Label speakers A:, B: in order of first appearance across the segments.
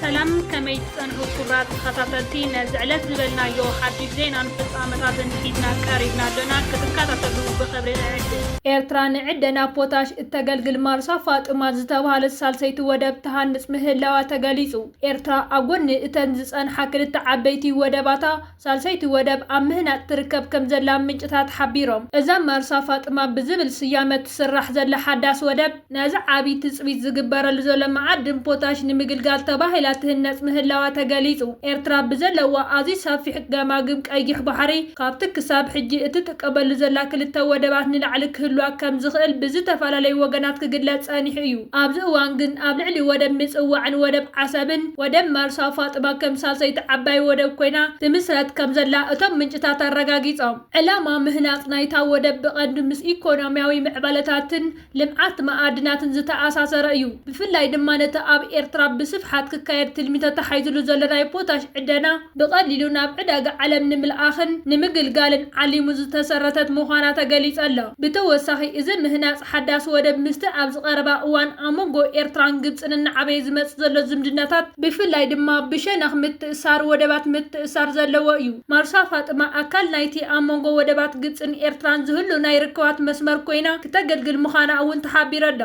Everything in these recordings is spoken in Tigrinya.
A: ሰላም ከመይ ትጸንሑ ክቡራት ተኸታተልቲ ነዚ ዕለት ዝበልናዮ ሓድሽ ዜናን ፍጻመታትን ሒዝና ቀሪብና ኣሎና ክትከታተሉ ብኽብሪ ንዕድም። ኤርትራ ንዕደና ፖታሽ እተገልግል ማርሳ ፋጡማ ዝተብሃለት ሳልሰይቲ ወደብ ትሃንጽ ምህላዋ ተገሊጹ። ኤርትራ ኣብ ጎድኒ እተን ዝጸንሓ ክልተ ዓበይቲ ወደባታ፣ ሳልሰይቲ ወደብ ኣብ ምህናፅ ትርከብ ከም ዘላ ምንጭታት ሓቢሮም። እዛ ማርሳ ፋጥማ ብዝብል ስያመ ትስራሕ ዘላ ሓዳስ ወደብ፣ ነዚ ዓብዪ ትፅቢት ዝግበረሉ ዘሎ መዓድን ፖታሽ ንምግልጋል ተባሂላ ትህነፅ ምህላዋ ተገሊፁ። ኤርትራ ብዘለዋ ኣዝዩ ሰፊሕ ገማግም ቀይሕ ባሕሪ፣ ካብቲ ክሳብ ሕጂ እቲ ቀበሉ ዘላ ክልተ ወደባት ንላዕሊ ክህልዋ ከም ዝኽእል ብዝተፈላለዩ ወገናት ክግለጽ ጸኒሑ እዩ። ኣብዚ እዋን ግን ኣብ ልዕሊ ወደብ ምጽዋዕን ወደብ ዓሰብን ወደብ መርሳ ፋጥማ ከም ሳልሰይቲ ዓባይ ወደብ ኮይና ትምስረት ከም ዘላ እቶም ምንጭታት ኣረጋጊጾም። ዕላማ ምህናጽ ናይታ ወደብ ብቐንዱ ምስ ኢኮኖሚያዊ ምዕባለታትን ልምዓት መኣድናትን ዝተኣሳሰረ እዩ። ብፍላይ ድማ ነቲ ኣብ ኤርትራ ብስፍሓት ክካየድ ትልሚ ተታሒዙሉ ዘሎ ናይ ፖታሽ ዕደና ብቐሊሉ ናብ ዕዳጋ ዓለም ንምልኣኽን ንምግልጋልን ዓሊሙ ዝተሰረተት ምዃና ተገሊጸ ኣሎ። ብተወሳኺ እዚ ምህናጽ ሓዳስ ወደብ ምስቲ ኣብዚ ቀረባ እዋን ኣብ መንጎ ኤርትራን ግብጽን እናዓበየ ዝመጽእ ዘሎ ዝምድናታት ብፍላይ ድማ ብሸነኽ ምትእስሳር ወደባት ምትእስሳር ዘለዎ እዩ። ማርሳ ፋጥማ ኣካል ናይቲ ኣብ መንጎ ወደባት ግብጽን ኤርትራን ዝህሉ ናይ ርክባት መስመር ኮይና ክተገልግል ምዃና እውን ተሓቢሩ'ሎ።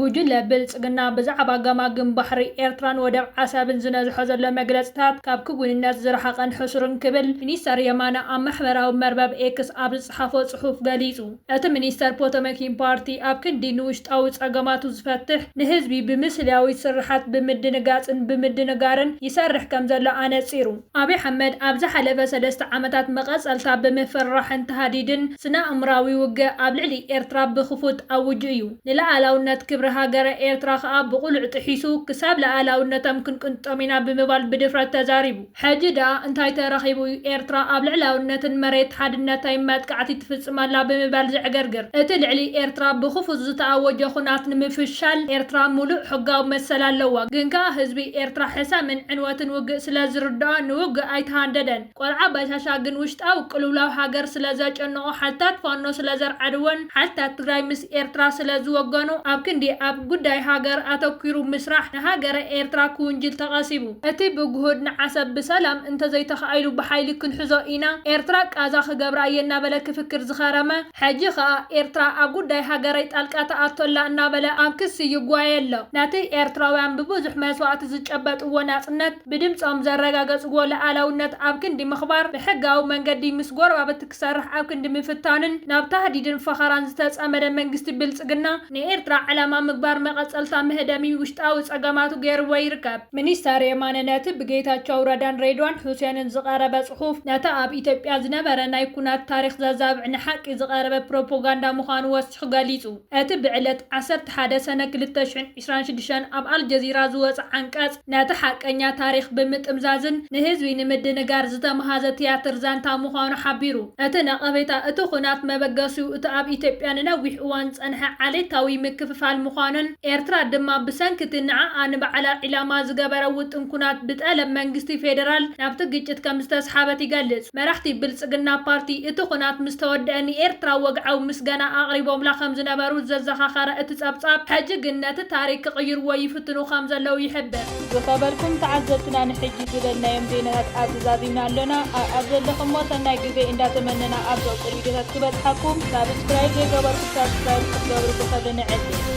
A: ጉጅለ ብልጽግና ብዛዕባ ገማግም ባሕሪ ኤርትራን ወደብ ዓሰብን ዝነዝሖ ዘሎ መግለጽታት ካብ ክውንነት ዝረሓቐን ሕሱርን ክብል ሚኒስተር የማነ ኣብ ማሕበራዊ መርበብ ኤክስ ኣብ ዝጸሓፎ ጽሑፍ ገሊጹ። እቲ ሚኒስተር ፖቶመኪን ፓርቲ ኣብ ክንዲ ንውሽጣዊ ጸገማቱ ዝፈትሕ ንህዝቢ ብምስልያዊት ስርሓት ብምድንጋጽን ብምድንጋርን ይሰርሕ ከምዘሎ ኣነጺሩ። ኣብይ ኣሕመድ ኣብ ዝሓለፈ ሰለስተ ዓመታት መቐጸልታ ብምፍርራሕን ታህዲድን ስነኣእምራዊ ውግእ ኣብ ልዕሊ ኤርትራ ብክፉት ኣውጁ እዩ። ንለኣላውነት ክብሪ ሃገረ ኤርትራ ከኣ ብቕሉዕ ጥሒሱ ክሳብ ለኣላውነቶም ክንቅንጥጦም ኢና ብምባል ብድፍረት ተዛሪቡ። ሕጂ ድኣ እንታይ ተረኺቡ እዩ ኤርትራ ኣብ ልዕላውነትን መሬት ሓድነተይን መጥቃዕቲ ትፍጽም ኣላ ብምባል ዘዕገርግር? እቲ ልዕሊ ኤርትራ ብክፉት ዝተኣወጀ ኩናት ንምፍሻል ኤርትራ ሙሉእ ሕጋዊ መሰል ኣለዋ። ግን ከኣ ህዝቢ ኤርትራ ሕሰምን ዕንወትን ውግእ ስለ ዝርድኦ ንውግእ ኣይተሃንደደን። ቆልዓ ባሻሻ ግን ውሽጣዊ ቅልውላው ሃገር ስለ ዘጨነቖ ሓልታት ፋኖ ስለ ዘርዓድዎን ሓልታት ትግራይ ምስ ኤርትራ ስለ ዝወገኑ ኣብ ክንዲ ኣብ ጉዳይ ሃገር ኣተኲሩ ምስራሕ ንሃገረ ኤርትራ ክውንጅል ተቐሲቡ። እቲ ብግሁድ ንዓሰብ ብሰላም እንተዘይተኻኢሉ ብሓይሊ ክንሕዞ ኢና፣ ኤርትራ ቃዛ ክገብራ እየ እናበለ ክፍክር ዝኸረመ፣ ሕጂ ከኣ ኤርትራ ኣብ ጉዳይ ሃገረይ ጣልቃ ትኣቱ ኣላ እናበለ ኣብ ክሲ ይጓየ ኣሎ። ነቲ ኤርትራውያን ብብዙሕ መስዋእቲ ዝጨበጥዎ ናጽነት ብድምጾም ዘረጋገጽዎ ልኣላውነት ኣብ ክንዲ ምኽባር ብሕጋዊ መንገዲ ምስ ጎረባብቲ ክሰርሕ ኣብ ክንዲ ምፍታንን ናብ ታህዲድን ፈኸራን ዝተጸመደ መንግስቲ ብልጽግና፣ ንኤርትራ ዕላማ ምግባር መቐጸልታ መህደሚ ውሽጣዊ ጸገማቱ ገይርዎ ይርከብ። ሚኒስተር የማነ ነቲ ብጌታቸው ረዳን ሬድዋን ሑሴንን ዝቐረበ ጽሑፍ፣ ነቲ ኣብ ኢትዮጵያ ዝነበረ ናይ ኵናት ታሪኽ ዘዛብዕ ንሓቂ ዝቐረበ ፕሮፖጋንዳ ምዃኑ ወሲኹ ገሊጹ። እቲ ብዕለት ዓሰርተ ሓደ ሰነ ክልተ ሽሕን ዕስራን ሽዱሽተን ኣብ ኣልጀዚራ ዝወጸ ዓንቀጽ፣ ነቲ ሓቀኛ ታሪኽ ብምጥምዛዝን ንህዝቢ ንምድንጋር ዝተመሃዘ ትያትር ዛንታ ምዃኑ ሓቢሩ። እቲ ነቐፌታ፣ እቲ ኹናት መበገሲኡ እቲ ኣብ ኢትዮጵያ ንነዊሕ እዋን ዝጸንሐ ዓሌታዊ ምክፍፋል ምዃኑን፣ ኤርትራ ድማ ብሰንኪ'ቲ ንዓኣ ንባዕላ ዒላማ ዝገበረ ውጥን ኵናት ብጠለብ መንግስቲ ፌደራል ናብቲ ግጭት ከምዝተስሓበት ይገልጽ። መራሕቲ ብልጽግና ፓርቲ፣ እቲ ኹናት ምስ ተወደኣ ንኤርትራ ወግዓዊ ምስጋና ኣቕሪቦምላ ከም ዝነበሩ ዘዘኻኸረ እቲ ጸብጻብ፣ ሕጂ ግን ነቲ ታሪኽ ክቕይርዎ ይፍትኑ ከም ዘለዉ ይሕብር። ዝኸበርኩም ተዓዘብትና ንሕጂ ዝበልናዮም ዜናታት ኣብዚ ዛዚምና ኣሎና ኣኣብ ዘለኹሞ ሰናይ ግዜ እንዳ ተመነና ኣብ ዘቁር ቪድዮታት ክበጽሓኩም ሳብስክራይብ ዘይገበርኩም ሳብስክራይብ ክትገብሩ ብኽብሪ ንዕድም።